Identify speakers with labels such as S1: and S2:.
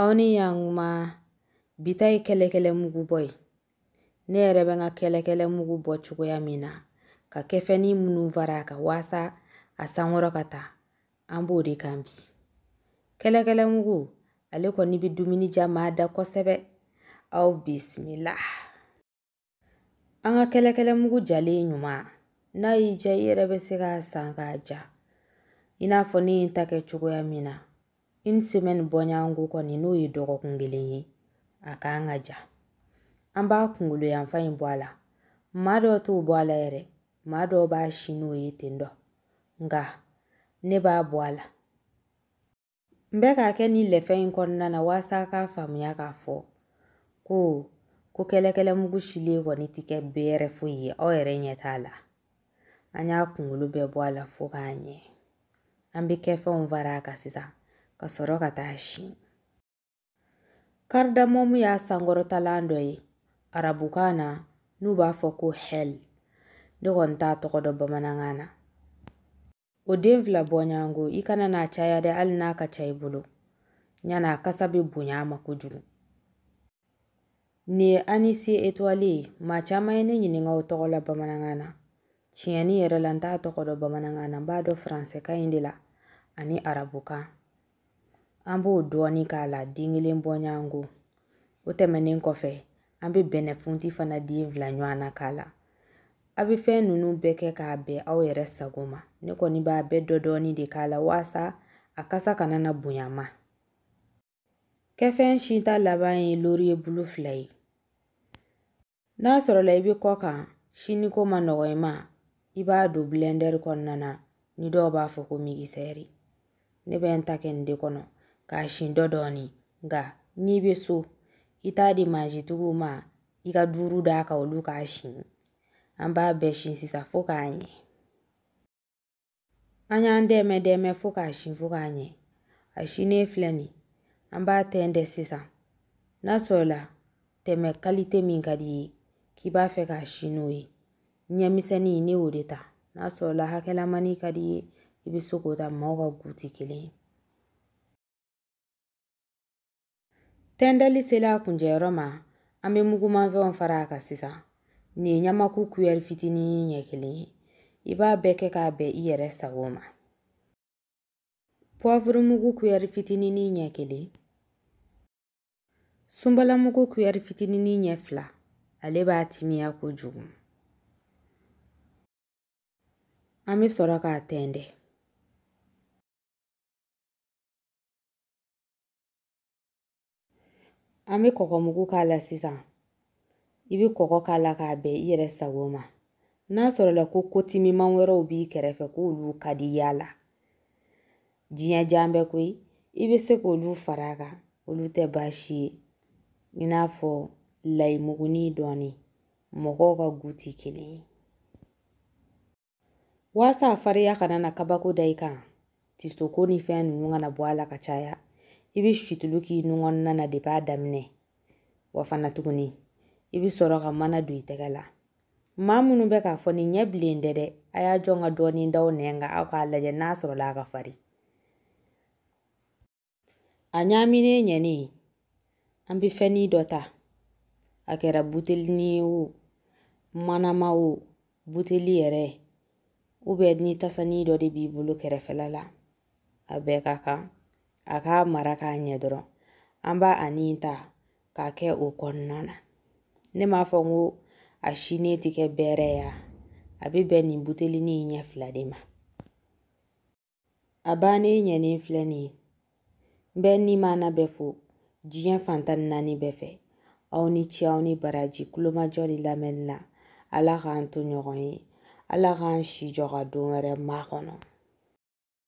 S1: aw ni yankuma bi ta ye kɛlɛkɛlɛ mugu bɔ ye ne yɛrɛ bɛ n ka kɛlɛkɛlɛ mugu bɔ cogoya min na ka kɛfɛnni minnu fara a kan waasa a sankɔrɔ ka ta an b'o de kan bi kɛlɛkɛlɛ mugu ale kɔni bɛ dumuni diya maa da kosɛbɛ aw bisimila An ka kɛlɛkɛlɛ mugu jalen ɲuman n'a y'i diya i yɛrɛ bɛ se k'a san k'a ja i n'a fɔ ne ye n ta kɛ cogoya min na une semaine bɔɲɔgɔnko kɔni n'o ye dɔgɔkun kelen ye a ka kan ka ja an b'a kunkolo yanfan in bɔ a la maa dɔw t'o bɔ a la yɛrɛ maa dɔw b'a si n'o ye ten don nka ne b'a bɔ a la N bɛ k'a kɛ ni lɛfɛ in kɔnɔna na waasa k'a faamuya k'a fɔ ko ko kɛlɛkɛlɛ mugu silen kɔni tɛ kɛ bɛrɛ foyi ye aw yɛrɛ ɲɛ t'a la an y'a kunkolo bɛɛ bɔ a la fo k'a ɲɛ an bɛ kɛfɛnw fara a kan sisan ka sɔrɔ ka t'a si karidamomu y'a sankɔrɔtalan dɔ ye arabukan na n'u b'a fɔ ko hɛl ne kɔni t'a tɔgɔ dɔn bamanankan na o den fila bɔɲɔgɔnko i kana n'a caya dɛ hali n'a ka ca i bolo ɲana a kasa bɛ bonya a ma kojugu nin ye anis étoilé ye maa caman ye ne ɲininka o tɔgɔ la bamanankan na tiɲɛni yɛrɛ la n t'a tɔgɔ dɔn bamanankan na n b'a dɔn faransɛkan in de la ani arabukan an b'o dɔɔni k'a la den kelen bɔɲɔgɔnko o tɛmɛnen kɔfɛ an bɛ bɛnɛfunti fana den fila ɲɔgɔn na k'a la aw bɛ fɛn ninnu bɛɛ kɛ k'a bɛn aw yɛrɛ sago ma ne kɔni b'a bɛɛ dɔdɔɔni de k'a la waasa a kasa kana na bonya a ma kɛfɛn sinta laban ye loriye bulu fila ye N'a sɔrɔla i bɛ kɔkan siniko ma nɔgɔ i ma i b'a don blender kɔnɔna na ni dɔw b'a fɔ ko migisɛri ne bɛ n ta kɛ nin de kɔnɔ k'a sin dɔdɔɔni nka n'i bɛ so i t'a di mansintigiw ma i ka duuru d'a kan olu k'a sin an b'a bɛɛ sin sisan fo k'a ɲɛ an y'an dɛmɛ dɛmɛ fo k'a sin fo k'a ɲɛ a sinnen filɛ nin an b'a tɛntɛn sisan n'a sɔrɔla tɛmɛ kalite min ka di i ye k'i b'a fɛ k'a si n'o ye ɲɛmisɛnnin ne y'o de ta n'a sɔrɔla hakɛlamani ka di i ye i bɛ se k'o ta maaw ka goût tɛ kelen ye Tɛntɛnli sela a kuncɛyɔrɔ ma an bɛ mugumanfɛnw fara a kan sisan nin ye ɲamaku kuyɛri fitinin ɲɛ kelen ye i b'a bɛɛ kɛ k'a bɛn i yɛrɛ sago ma poivre mugu kuyɛri fitinin ɲɛ kelen sunbalamugu kuyɛri fitinin ɲɛ fila ale b'a timiya kojugu an bɛ sɔrɔ k'a tɛntɛn An bɛ kɔgɔmugu k'a la sisan i bɛ kɔgɔ k'a la k'a bɛn i yɛrɛ sago ma n'a sɔrɔla ko kotimiman wɛrɛw b'i kɛrɛfɛ k'olu ka di y'a la diɲɛ jan bɛ koyi i bɛ se k'olu fara a kan olu tɛ baasi ye i n'a fɔ layimuguni dɔɔni mɔgɔw ka goût tɛ kelen ye Waasa a fariya kana na kabako da i kan, tisoko ni fɛn ninnu kana bɔ a la ka caya, i bɛ situlu k'i nun kɔnɔna na depuis a daminɛ. Wa fana tuguni, i bɛ sɔrɔ ka mana don i tɛgɛ la. Maa minnu bɛ k'a fɔ nin ɲɛ bilen tɛ dɛ, a y'a jɔ n ka dɔɔnin da aw nɛn kan aw k'a lajɛ n'a sɔrɔla a ka farin. A ɲaaminen ɲɛnen an bɛ fɛnnin dɔ ta a kɛra butelini ye o manama o buteli yɛrɛ ou bien ni tasani dɔ de b'i bolo kɛrɛfɛla la a bɛɛ ka kan a k'a mara k'a ɲɛ dɔrɔn an b'a ani ta k'a kɛ o kɔnɔna na ne m'a fɔ ko a sinen tɛ kɛ bɛrɛ ye a bɛ bɛn nin butelini ɲɛ fila de ma A bannen ɲɛnen filɛ nin ye n bɛ ni maana bɛɛ fo diɲɛ fan tan ni naani bɛɛ fɛ aw ni ce aw ni baraji tulomajɔ ni lamɛnni na ala k'an to ɲɔgɔn ye ala k'an si jɔ ka don wɛrɛ makɔnɔ